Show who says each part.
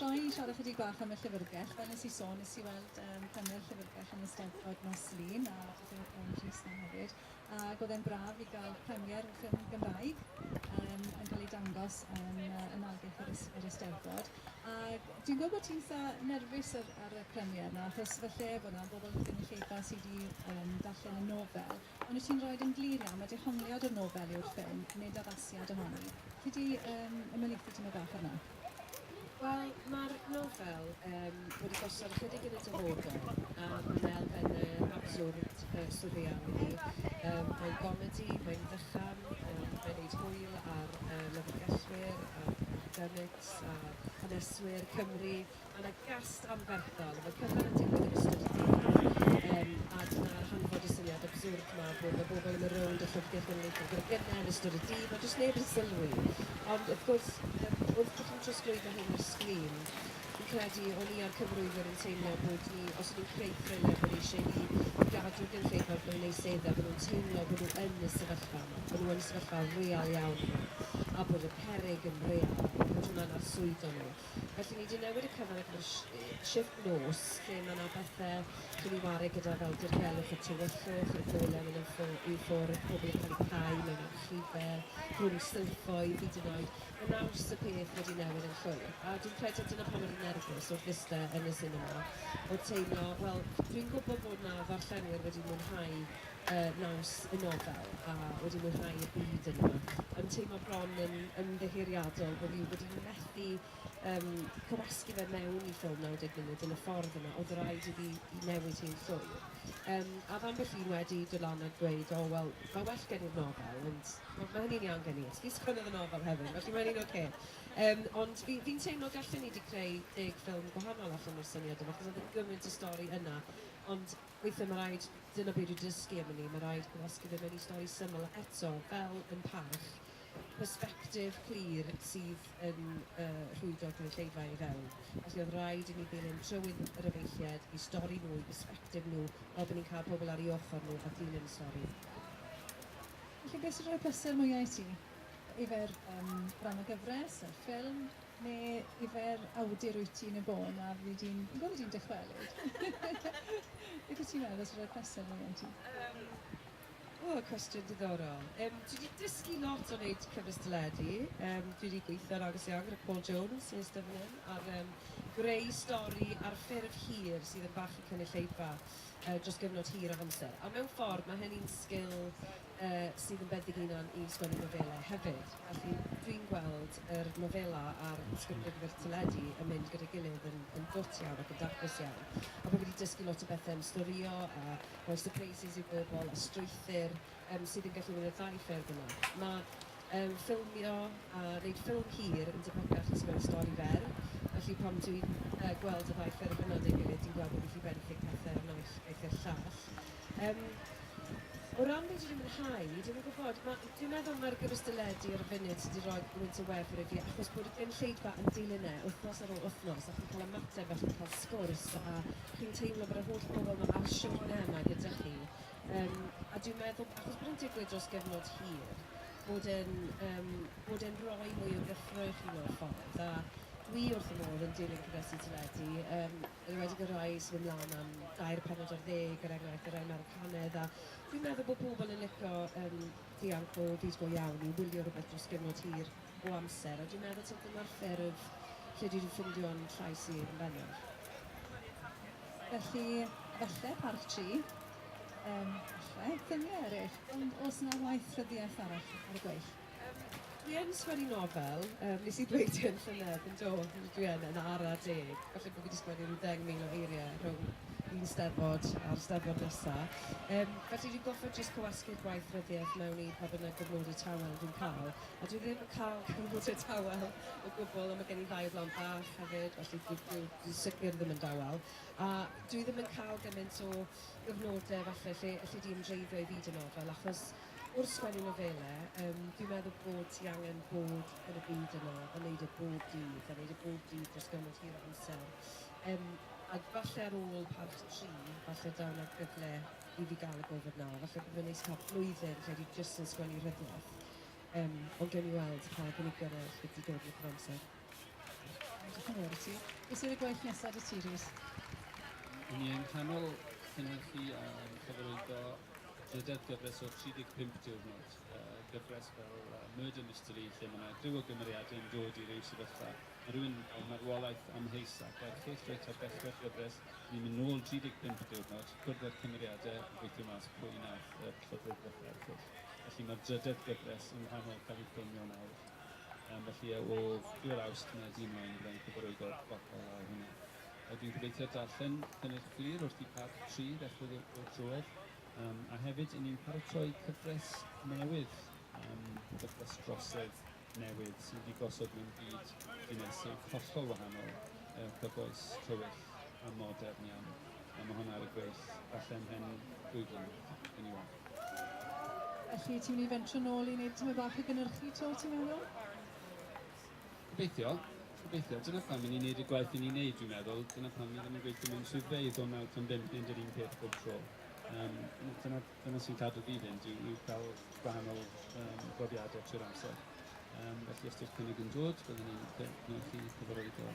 Speaker 1: Ga i siarad chydig bach am y llyfrgell? Fel nes i sôn, nes i weld um, panel llyfrgell yn y Steddfod nos Lun, a falle oedd Gwen Rhys na hefyd, ac oedd e'n braf i gael premier y ffilm Gymraeg um, yn cael ei dangos yn uh, ymwelgell yr, yr Eisteddfod. A dwi'n gwybod bod ti'n sa nerfus ar, ar y premier yna, achos falle bod yna bobl yn y llefa sydd wedi um, darllen y nofel, ond wyt ti'n rhoi yn glir iawn, mae dehongliad o'r nofel yw'r ffilm, nid addasiad ohoni. Chi wedi um, ymwneud i ti bach arno? Wel,
Speaker 2: mae'r nofel um, wedi gosod ychydig yn y dyfodol, a mae'n elfennau absurd uh, surreal i fi. Um, mae'n gomedi, mae'n ddychan, um, mae'n neud hwyl ar uh, lyfrgellwyr, ar academics, ar haneswyr Cymru, Mae yna gast anferthol, mae cyfan yn digwydd yn ystod y dydd yma, um, a dyna hanfod y syniad absurd yma bod y bobl yn y rownd y llyfrgell genedlaethol gyda gynnau yn ystod y dydd, mae jyst neb yn sylwi. Ond wrth gwrs, um, wrth bod chi'n trosglwyddo hyn ar sgrin, fi'n credu o'n i a'r cyfrwyfwyr yn teimlo bod ni, os ydyn ni'n creu thriller, bod ni eisiau i, i gadw'r gynulleidfa wrth mewn eu sedda, bod nhw'n teimlo bod nhw yn y sefyllfa yma, bod nhw yn y sefyllfa real iawn yma, a bod y perig yn real, a bod hwnna'n arswydo nhw. Felly ni 'di newid y cyfan ac ma'r shift nos lle ma' 'na bethe chi'n 'u ware gyda fel dirgelwch y tywyllwch, y gole'n myn' yn ffo- i ffwrdd, pobol yn ca'l 'u cau mewn archife, rhwng silffoedd hyd yn oed. Ma' naws y peth wedi newid yn llwyr. A dwi'n credu dyna pam o'n i'n nerfus wrth iste yn y sinema, o'dd teimlo, wel, dwi'n gwbo bod 'na ddarllenwyr wedi mwynhau y naws y nofel a wedi mwynhau y byd yno. Yn teimlo bron yn ymddiheuriadol bod fi wedi methu um, cywasgu fe mewn i ffilm 90 munud yn y ffordd yna, oedd rhaid i fi i newid hi'n llwyr. Um, a fan ambell un wedi dod lan a dweud, o, oh, wel, mae well gen i'r nofel, ond mae, mae hynny'n iawn gen i. Fi sgwennodd y nofel hefyd, felly mae'n un o'r okay. Um, ond fi'n fi teimlo gallen ni wedi creu deg ffilm gwahanol allan o'r syniad yma, chos oedd yn gymaint o stori yna. Ond Weithiau mae rhaid, dyna be dwi dysgu am wn i, mae rhaid gwasgu fe mewn i stori syml a eto, fel yn parch, persbectif clir sydd yn rhwydo'r gynulleidfa i fewn. Felly oedd rhaid i ni ddilyn trywydd yr efeilliaid i stori nhw, i persbectif nhw, fel bod ni'n cael pobl ar ei ochr nhw a dilyn y stori. Felly,
Speaker 1: beth sy'n rhoi pleser mwya i ti? Yfe'r rhan o gyfres, yr ffilm, Ne yfe'r awdur wyt ti yn y bôn a fyddi di'n yn gwbod ydi'n dychwelyd? Beth wyt ti'n meddwl os roi presant neu un ti? Yym,
Speaker 2: o, cwestiwn diddorol. Um, dwi wedi dysgu lot o wneud cyfres deledu. Um, dwi wedi gweithio'n agos iawn gyda Paul Jones, sy'n ystod fan hyn, ar um, greu stori ar ffurf hir sydd yn bach i cynulleidfa uh, dros gyfnod hir o amser. A mewn ffordd, mae hynny'n sgil sydd yn bendigynon i sgwennu nofelau hefyd. Felly, dwi'n gweld yr nofela a'r ysgrifennu'r teledu yn mynd gyda'i gilydd yn yn gwt iawn ac yn daclus iawn. A bod fi 'di dysgu lot o bethe am storio a rhoi surprises i bobl a strwythur yym sydd yn gallu mynd ar ddau ffurf yna. Ma' yym ffilmio a neud ffilm hir yn debygach na sgwennu stori fer, felly pan dwi'n yy gweld y ddau ffurf yna 'da'i gilydd dwi'n gweld bod fi 'llu benthyg pethe o'r naill iaith i'r llall. Yym, o ran be' dwi 'di mwynhau, dwi'm yn gwybod, ma'... Dwi'n meddwl mai'r gymystyledu ar y funud sy' 'di roi gwynt o wefr i fi, achos bod y gynulleidfa yn dilyn e wythnos ar ôl wythnos, a chi'n cael ymateb a chi'n cael sgwrs, a chi'n teimlo bod yr holl bobl 'ma ar siwrne yma gyda chi. Yym, a dwi'n meddwl, achos bod e'n digwydd dros gyfnod hir, bod e'n, yym, bod e'n roi mwy o gyffroi i chi mewn ffordd, a dwi wrth fy modd yn dilyn cynhesu teledu, yym, Yn enwedig y rhai sy'n mynd lan am dair pennod ar ddeg, er enghraifft, y rhai Americanedd, a dwi'n meddwl bod pobl yn licio um, dianc o byd go iawn i wylio rhywbeth dros gyfnod hir o amser, a dwi'n meddwl taw dyna'r ffurf lle dwi wedi ffindio'n llais i yn bennaf.
Speaker 1: Felly, falle Parc Tri, um, falle, ffilmiau eraill, ond os yna waith rhyddiaith arall ar y gweill. Yym, dwi yn
Speaker 2: sgwennu nofel, yym nes i ddweud hyn llynedd, yn do, dwi yn, yn ara deg. Falle bo fi 'di sgwennu rhyw ddeng mil o eirie rhwng un Steddfod a'r Steddfod nesa. Yym, felly dwi'n goffod jyst cywasgu'r gwaith ryddiaith mewn i pa bynnag gyfnode tawel dwi'n ca'l. A dwi ddim yn ca'l cyfnode tawel o gwbwl, a ma' gen i ddau o blant bach hefyd, felly dwi dwi dwi sicir ddim yn dawel. A dwi ddim yn ca'l gyment o gyfnode falle lle elli di ymdreiddio i fyd y nofel, achos wrth sgwennu nofelau, yym, dwi'n meddwl bod ti angen bod yn y byd yna a wneud e bob dydd, a wneud e bob dydd dros gymaint hir o amser. Um, a falle ar ôl parch tri, falle daw na gyfle i fi gael y gofod na. Falle bod fe'n neis cael blwyddyn lle dwi jyst yn sgwennu rhydwaith. Um, ond gen i weld pa gynigion eraill wedi dod yn y cyfamser. Diolch yn
Speaker 1: fawr i ti. Beth yw'r gweill nesaf 'da ti, Rhys? Yn
Speaker 3: ni yng nghanol cynhyrchu a chyfarwyddo drydedd gyfres o 35 diwrnod, gyfres fel Murder Mystery lle mae 'na griw o gymeriadau yn dod i ryw sefyllfa, mae rhywun â marwolaeth amheus ac erchyll reit ar ddechrau'r gyfres, ni'n mynd nôl 35 diwrnod, cwrdd â'r cymeriadau a gweithio mas pwy wnaeth yr llythyr ddechrau erchyll. Felly mae'r drydedd gyfres yng nghanol cael ei ffilmio nawr. Um, felly o 2 Awst mae dyn mlaen byddai'n cyfrwyd o'r fotel lawr hwnna. A dwi'n gobeithio darllen cynnydd clir wrth i part 3 ddechrau o'r drwydd. Um, a hefyd, i ni'n paratoi cyfres newydd, um, cyfres drosedd newydd sydd wedi gosod mewn byd dinesig hollol wahanol, uh, cyfoes, tywyll a modern iawn. A mae hwnna ar y gweill allan hen ddwy flynedd, yn i weld. Felly,
Speaker 1: ti'n mynd i fentro nôl i wneud tymed bach o gynhyrchu to, ti'n meddwl? Gobeithio.
Speaker 3: Gobeithio. Dyna pam i ni'n wneud y gwaith i ni'n wneud, dwi'n meddwl. Dyna pam ni ddim yn gweithio mewn swyddfeydd o 9 tan 5 ni'n dod un peth bob tro. Um, dyna, dyna sy'n cadw fi fynd yw, yw cael gwahanol um, brofiadau trwy'r amser. Um, felly os di'r cynnig yn dod, byddwn ni'n gwneud chi cyfarwydd o.